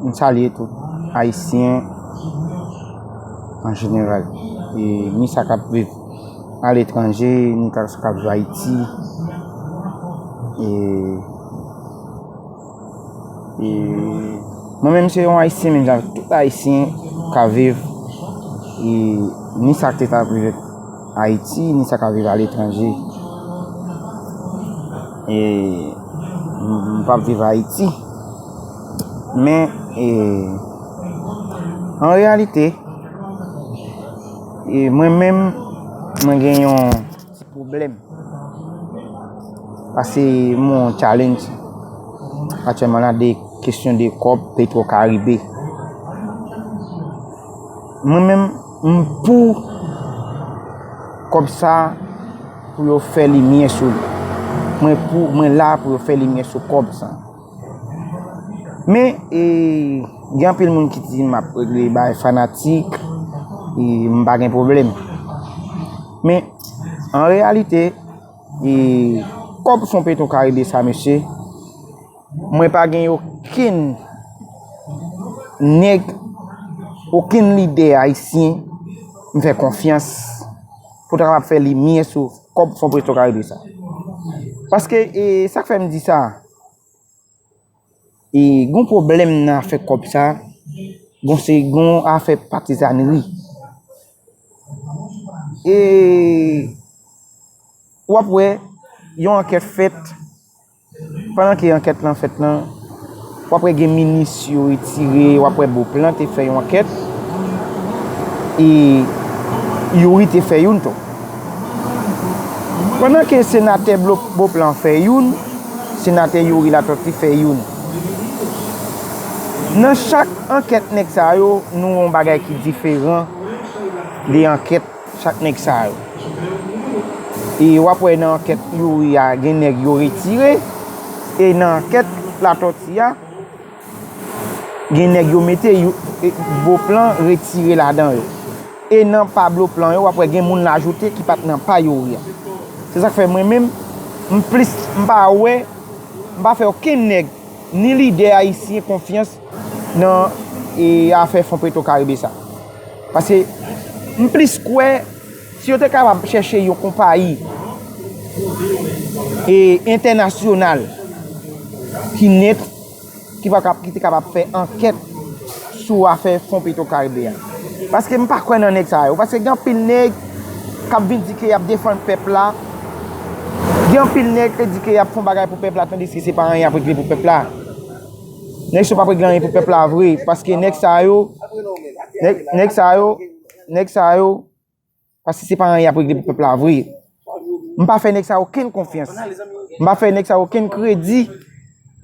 M salye tout ayisyen an jeneral ni sa k ap viv aletranje ni sa k ap viv ayiti mwen menm se yon ayisyen menm jan avèk tout ayisyen k ap viv ni sa k te ka rive Ayiti, ni sa k ap viv aletranje. E m p ap viv Ayiti. Men, e, an reyalite, e mwen menm, mwen gen yon ti pwoblèm. Pase moun challenge, atyèman la, de kesyon de kòb petwokaribe. Mwen menm. M pou kob sa pou yo fè limyè sou li. Mwen pou mwen la pou yo fè limyè sou kob sa. Men e gen anpil moun ki di map regle bay fanatik e m pa gen pwoblèm. Men an reyalite e kob fon petro karibe sa mesye. Mwen pa gen okenn nèg, okenn lidè ayisyen m fè konfyans pou ta kapab fè limyè sou kòb Fon Presto Karibe sa. Paske, e sa k fè m di sa, e gon pwoblèm nan afè kòb sa, gon se gon afè patizannri. E, w ap wè, yon ankèt fèt. Pandan ke ankèt lan fèt nan, w ap wè gen minis yo retire, w ap wè Beauplan te fè yon ankèt, e Youri te fè youn tou. Pandan ke senatè Beauplan fè youn, senatè Youri Latortue fè youn. Nan chak ankèt nèg sa yo, nou wè yon bagay ki diferan de ankèt. Chak nèg sa yo. E wap wè nan ankèt youri a gen nèg yo retire. E nan ankèt latoti a gen nèg yo mete bo plan retire ladan yo. E nan pa blo plan yo wap wè gen moun lajoute ki pat nan pa youri a. Se sak fè mwen menm m plis m pa wè m pa fè okenn nèg ni lidè ayisyen konfyans. nan e afè fon petro karibe sa paske m plis kwè si yo te kapab chèche yon konpayi e entènasyonal ki net ki pa kap ki te kapab fè ankèt sou afè fon petro karibe a paske m pa kwè nan nèg sa yo paske gen anpil nèg kap vin di ke yap defann pèp la gen anpil nèg ke di ke yap fon bagay pou pèp la tandiske se pa anyen yap regle pou pèp la. Nèg sa yo pa regle anyen pou pèp la vre paske nèg sa yo nèg sa yo nèg sa yo paske se pa anyen yap regle pou pèp la vre m pa fè nèg sa yo okenn konfyans m pa fè nèg sa yo okenn kredi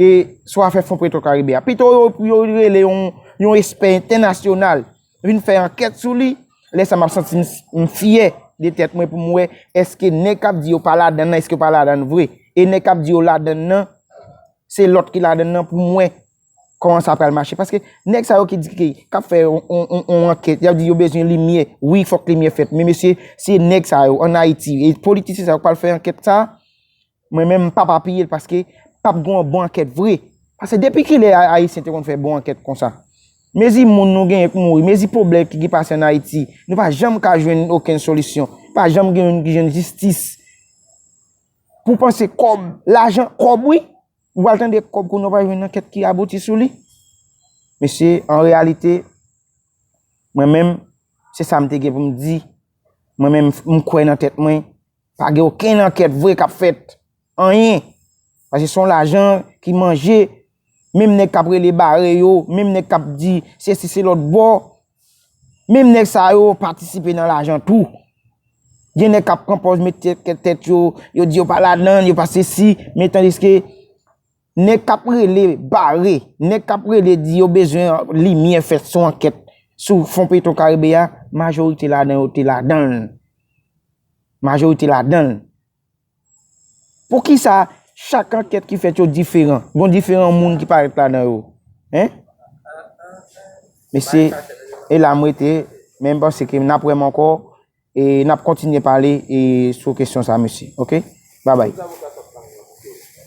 e sou afè fon preto karibe a pito yo rele yon espè entènasyonal vin fè ankèt sou li, lè sa map santi m fyè de tèt mwen pou m wè eske nèg kap di yo pa ladann nan eske yo pa ladann vre e nèg kap di yo ladann nan se lòt ki ladann nan pou m wè kòman sa pral mache paske nèg sa yo ki di ki kap fè yon ankèt yap di yo bezwen limyè wi fòk limyè fèt men mesye se nèg sa yo an ayiti e politisyen sa yo k pral fè ankèt sa Mwen menm m pap apiye l paske pap gen yon bon ankèt vre. Pase depi kilè Ayisyen te konn fè bon ankèt konsa? Mezi moun nou genyen k mouri, mezi pwoblèm ki pase an Ayiti, nou pa janm ka jwenn okenn solisyon. Pa janm gen youn ki jwenn jistis. Pou panse kòb, lajan, kòb wi. Ou pral tande kòb kounye w pa jwenn ankèt ki abouti sou li. Mesye, an reyalite, mwen menm, se sa m te gen pou m di. Mwen menm, m kwè nan tèt mwen, Pa gen okenn ankèt vre kap fèt. Anyen. Pase son lajan ki manje. Menm nèg kap rele bare yo. Menm nèg kap di se si se lòt bò. Menm nèg sa yo patisipe nan lajan tou. Gen nèg kap pran pòz met tèt yo. Yo di yo pa ladan, yo pa se si. Men tandiske. Nèg kap rele bare, nèg kap rele di yo bezwen limyè fèt sou ankèt sou fon petro karibe a, majorite ladan yo te ladan l. Majorite ladan l. Pou ki sa chak ankèt ki fèt yo diferan? Gon diferan moun ki parèt ladan yo? Hein? Mesye, e la mwen te, menm pa se ke m ap wè m ankò, e n ap kontinye pale e sou kesyon sa mesye. Ok? Babay.